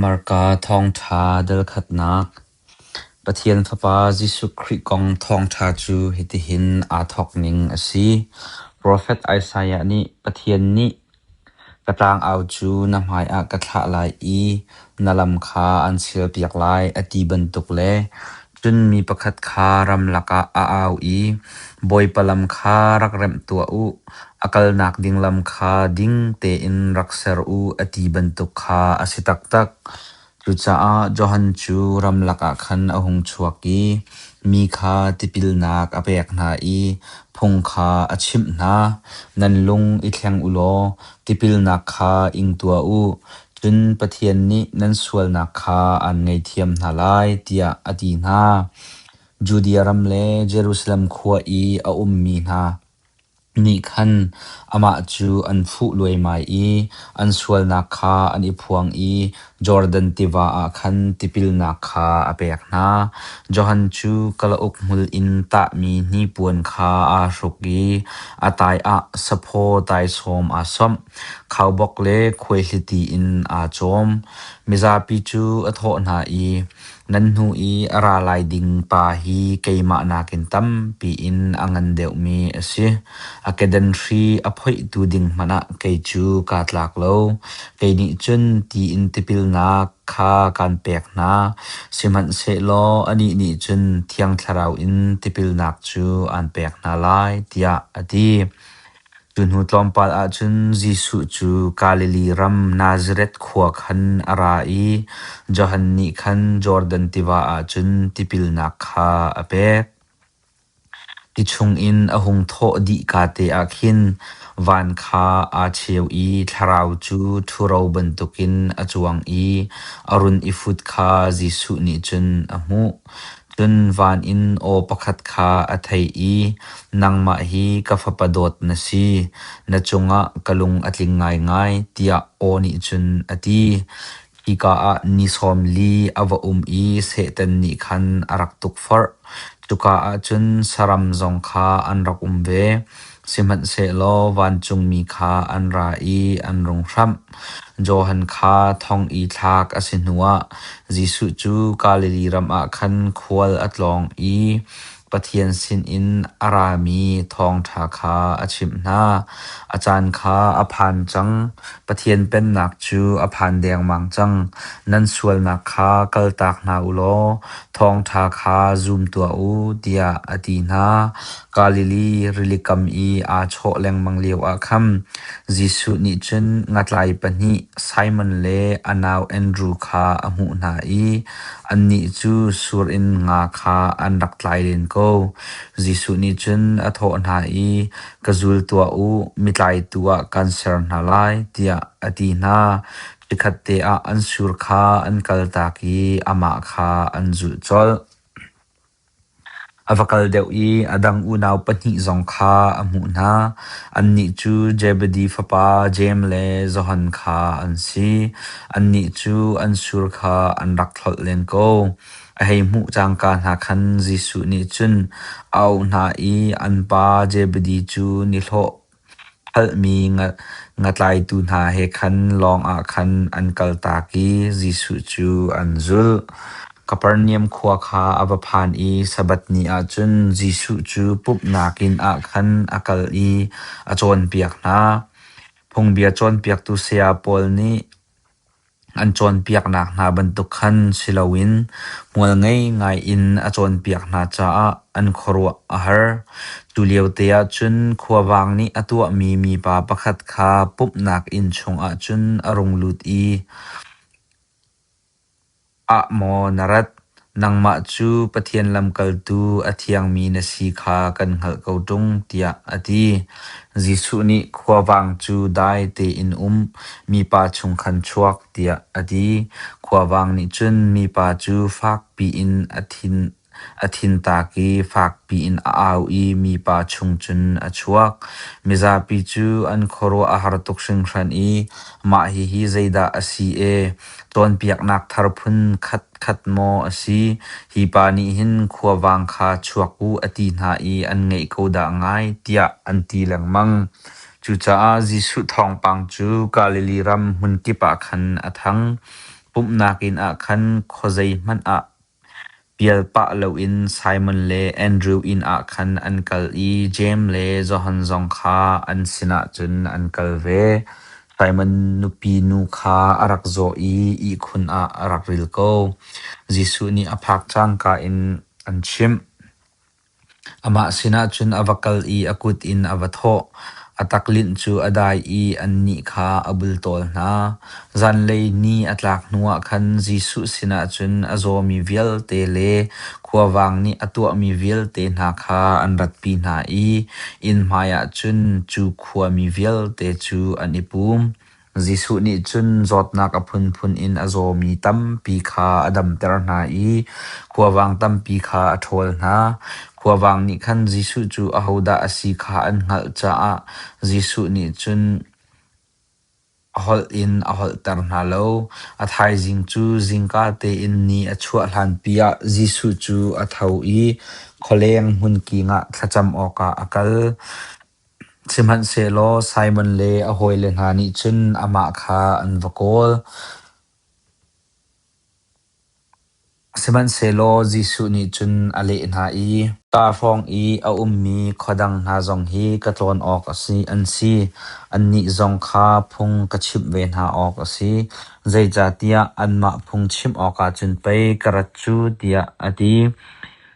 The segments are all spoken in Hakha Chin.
Marka Thawngṭha Delkhatnak Pathian Fapa Jesuh Khrih kong thawngṭha cu hitihin aa thawk ning a si: Profet Isaiah nih Pathian nih, “Ka ṭangau cu na hmaiah ka thlah lai i na lam kha an silpiak lai,” a ti bantuk le Cun mi pakhat kha ramlak ah a au i, Bawipa lam kha rak remh tuah u, a kalnak ding lam kha ding tein rak ser u, a ti bantuk kha a si taktak. Cucaah Johan cu ramlak ah khan a hung chuak i mi kha tipilnak a pek hna i phung kha a chimh hna, Nan lung i thleng u law Tipilnak kha ing tuah u, cun Pathian nih nan sualnak kha aan ngeihthiam hna lai tiah a ti hna. Judea ram le Jerusalem khua i a ummi hna nih khan amah cu an fuh luaimai i an sualnak kha an i phuang i Jordan tiva ah khan tipilnak kha a pek hna. Johan cu kalauk hmul in tahmi hnipuan kha aa hruk i a taiah saphaw taisawm aa samh. Khaubawk le khuaihliti in aa cawm. Mizapi cu a thawh hna i, Nan hnu i a ra lai ding pa hi keimah nakin tampi in a ngan deuhmi a si. A kedanhri a phoihtu ding hmanh ah kei cu kaa tlak lo. Kei nih cun tiin tipilnak kha kaan pek hna. Sihmanhsehlaw anih nih cun Thiang Thlarau in tipilnak cu aan pek hna lai, tiah a ti. Cu hnu tlawmpal ahcun Jesuh cu Galilee ram Nazareth khua khan a ra i Johan nih khan Jordan tiva ah cun tipilnak kha a pek. Ti chungin a hung thawh dih kaa te ah khin van kha aa cheu i thlarau cu ṭhuro bantukin a cuang i a run i fut kha Jesuh nih cun a hmuh. Cun van in aw pakhat kha a thei i, “Nangmah hi ka fapa dawt na si, na cungah ka lung a tling ngaingai,” tiah aw nih cun a ti. Hika ah ni sawm li a va um i Satan nih khan a rak tukforh. Cuka ah cun saram zong kha an rak um ve. Sihmanhsehlaw vancungmi kha an ra i an rung hramh. Johan kha thong i thlak a si hnuah Jesuh cu Galilee ram ah khan khual a tlawng i Pathian sinin a rami thawngṭha kha a chimh hna. A caan kha a phan cang, Pathian pennak cu a phan dengmang cang. Nan sualnak kha kaltak hna u law thawngṭha kha zum tuah u, tiah a ti hna. Galilee rili kam i aa chawh lengmang lioah khan Jesuh nih cun ngatlai pahnih Simon le a nau Andru kha a hmuh hna i annih cu sur in nga kha an rak tlai len ko. Jesuh nih cun a thawh hna i, Ka zul tuah u, mitlaitu ah kaan ser hna lai, tiah a ti hna. Chikkhatte ah an sur kha an kaltak i amah kha an zulh colh. A va kal deuh i a dang unau pahnih zong kha a hmuh hna. Annih cu Zebedi fapa Jeim le Johan kha an si. Annih cu an sur kha an rak hlolh len ko. A hei hmuh cangka hna khan Jesuh nih cun a auh hna i an pa Zebedi cu nihlawh Hngalhmi ngatlaitu hna he khan lawngah khan an kaltak i Jesuh cu an zulh. Kapernaum khua kha a va phan i Sabbath ni ah cun Jesuh cu pumhnak inn ah khan a kal i a cawnpiak hna. Phungbia cawnpiaktu saya pawl nih An cawnpiaknak hna bantuk khan si loin hmual ngei ngai in a cawnpiak hna caah an khuaruah a har. Tuliote ahcun khuavang nih a tuahmi mipa pakhat kha pumhnak inn chungah cun a rung lut i Ah maw na rat, nangmah cu Pathian lamkaltu a thiangmi na si kha kan hngalh ko ṭung tiah a ti. Jesuh nih khuavang cu dai tein um, mipa chung khan chuak tiah a ti. Khuavang nih cun mipa cu fakpi in a thin A thintak i fakpi in a au i mipa chung cun a chuak. Mizapi cu an khuaruah a har tuk hringhran i mah hihi zeidah a si e? Cawnpiaknak thar phun khatkhat maw a si? Hi pa nih hin khuavang kha chuak u a ti hna i an ngeih ko dah ngai tiah an ti lengmang. Cucaah Jesuh thawngpang cu Galilee ram hmunkip ah khan a thang. Pumhnak inn ah khan khuazei hmanh ah Pial pah loin Simon le Andrew inn ah khan an kal i Jeim le Johan zong kha an sinah cun an kal ve. Simon nupi nu kha a rak zaw i ihkhun ah a rak ril ko. Jesuh nih a phak cangka in an chimh. Amah sinah cun a va kal i a kut in a va thawh, a taklinh cu a dai i annih kha a bultawl hna. Zanlei ni a tlak hnuah khan Jesuh sinah cun a zawmi vialte le khuavang nih a tuahmi vialte hna kha an ratpi hna i inn hmaiah cun cu khuami vialte cu an i pum. Jesuh nih cun zawtnak a phunphun in a zawmi tampi kha a damter hna i khuavang tampi kha a ṭhawl hna. Khuavang nih khan Jesuh cu ahodah a si kha an hngalh caah Jesuh nih cun holh in a holhter hna lo. A thaizing cu zingka tein ni a chuah hlanpi ah Jesuh cu a tho i khualeng hmunking ah thlacam awkah a kal. Sihmanhsehlaw Simon le a hawile hna nih cun amah kha an va kawl. Sihmanhsehlaw Jesuh nih cun a leh hna i, “Ka hrawng i a ummi khuadang hna zong hi ka tlawn awk a si, an si. Annih zong kha phung ka chimh ve hna awk a si. Zeicahtiah anmah phung chimh awkah cun pei ka rat cu,” tiah a ti.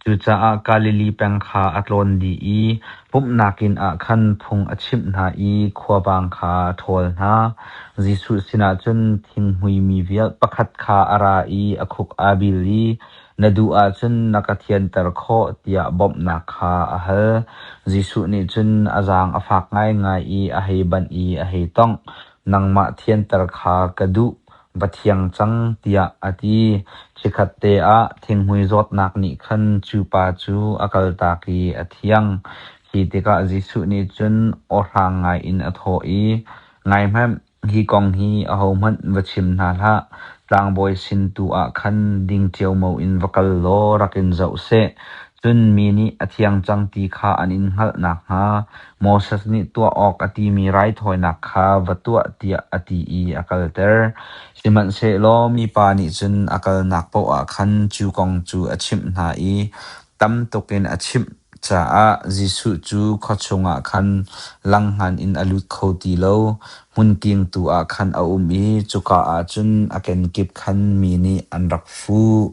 Cucaah Galili peng kha a tlawn dih i pumhnak inn ah khan phung a chimh hna i khuabang kha a ṭhawl hna. Jesuh sinah cun thinghmuimi vial pakhat kha a ra i a khuk aa bil i, Na duh ahcun na ka thianter khawh tiah bawmhnak kha a hal. Jesuh nih cun a zaang a fak ngaingai i a hei banh i a hei tongh, Nangmah thianter kha ka duh. va thiang cang, tiah a ti. Chikhat te ah thinghmui zawtnak nih khan cu pa cu a kaltak i a thiang. Khi tikah Jesuh nih cun ohrang ngaiin a thawh i, Ngaihmanh, hi kong hi ahohmanh va chim hna hlah. Tlangbawi sin tu ah khan ding ṭiaumo in va kal law rak in zoh seh. Cun mi nih a thiang cang ti kha an in hngalh nakhnga Moses nih tuah awk a timi raithawinak kha va tuah tiah a ti i a kalter. Sihmanhsehlaw mipa nih cun a kalnak paoh ah khan cu kong cu a chimh hna i tam tuk in a chimh caah Jesuh cu khua chungah khan langhman in a lut kho ti lo. Hmunking tu ah khan a um i cuka ah cun a kenkip khan mi nih an rak fuh.